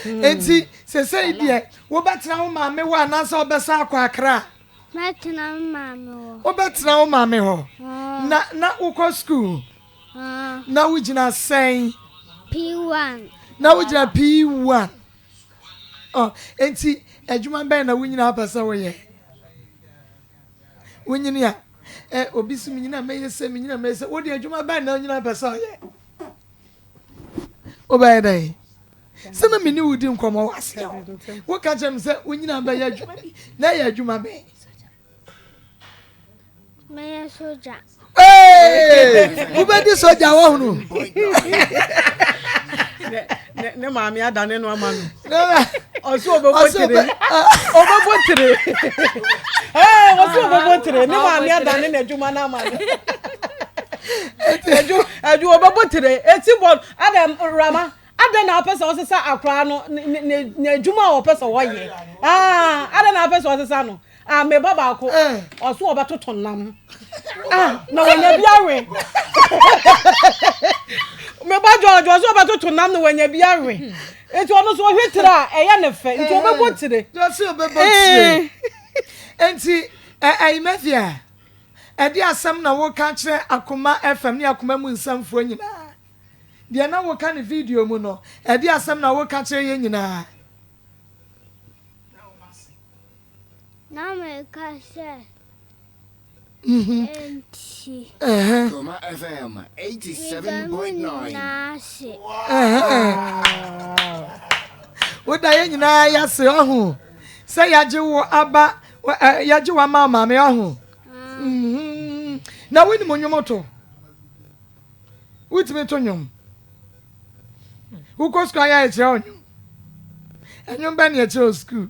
nti sɛsɛi deɛ wobɛtena wo maame hɔ anaasɛ wobɛsa akɔ akra mɛtena wo maame hɔ wobɛtena wo maame hɔ na na wokɔ skuul na wogyina sɛn p1 na wogyina p1 oh, nti adwuma bɛn na wonyina apɛ sɛ woyɛ wonyini a eh, obi so menyina mɛyɛ sɛ menyina mɛyɛ sɛ wode adwuma bɛn na wonyina apɛ sɛ ɔyɛ wobɛyɛ dɛn sɛ na mene wodi nkɔmmɔ wɔ aseɛ hɔ woka kyerɛ me sɛ wonyina bɛyɛ adwuma bi na ɛyɛ adwuma bɛn mɛyɛ sogya wobɛdi sogya wɔhunu ne maame adane no ama no ɔsɛ ɔbɛbɔ tiri ɔbɛbɔ tiri ɛɛ ɔsɛ ɔbɛbɔ tiri ne maame adane na adwuma no ama no adwuma adwuma ɔbɛbɔ tiri eti bɔ adam rama adan na apɛ sɛ ɔsesa akora no na adwuma a ɔpɛ sɛ ɔyɛ aa adan na apɛ sɛ ɔsesa no Ah, me ba baako. Ɔso eh. ɔbɛtoto nam. Ah, na wɔnya bi awe. Me ba George ɔso ɔbɛtoto nam na wɔnya bi awe. Nti ɔno so ɔhwɛ tiri a ɛyɛ ne fɛ. Nti ɔbɛbɔ eh. tiri. Ɔso ɔbɛbɔ tiri. Eh. Nti ɛyi mɛfia. Ɛde asɛm na woka kyerɛ akoma FM ne akoma mu nsɛmfoɔ nyinaa. Deɛ na woka ne video mu no, ɛde asɛm na woka kyerɛ yɛ nyinaa. Woda yɛn nyinaa yɛase ɔho sɛ yɛagye wo aba yɛagye wo ama maame ɔho mhm. na wonim nnwom to wotumi to nnwom wokɔ sukuu ayɛ akyerɛ wo nnwom nnwom bɛ ne ɛkyerɛ wo sukuu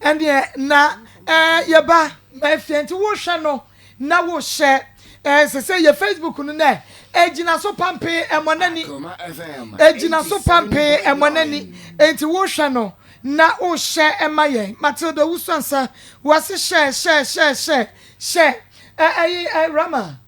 ɛnneɛ na ɛɛ yɛba ɛfie nti wohwɛ no na wohyɛ ɛɛ sɛ sɛ yɛ facebook no nɛ ɛgyina so pampee ɛmɔ n'ani ɛgyina so pampee ɛmɔ n'ani nti wohwɛ no na wohyɛ ɛma yɛn matilda wusuansa wase hyɛ hyɛ hyɛ hyɛ hyɛ ɛɛ ɛyi ɛɛ rama.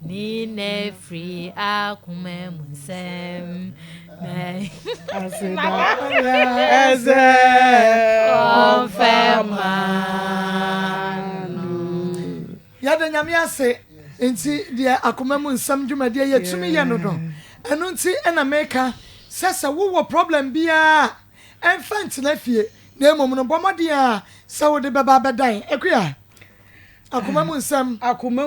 Ne na firi akoma mu nsɛm. Aseda ɛsɛ ɔfɛ maa no. Yɛde nyame ase nti deɛ akoma mu nsɛm dwumadie yɛtumi yɛ no no ɛno nti ɛna meka sɛ sɛ wowɔ problem biara ɛmfa ntena fie na mmom no bɔ mmɔden a sɛ wode bɛba abɛdan akuya akoma mu nsɛm akoma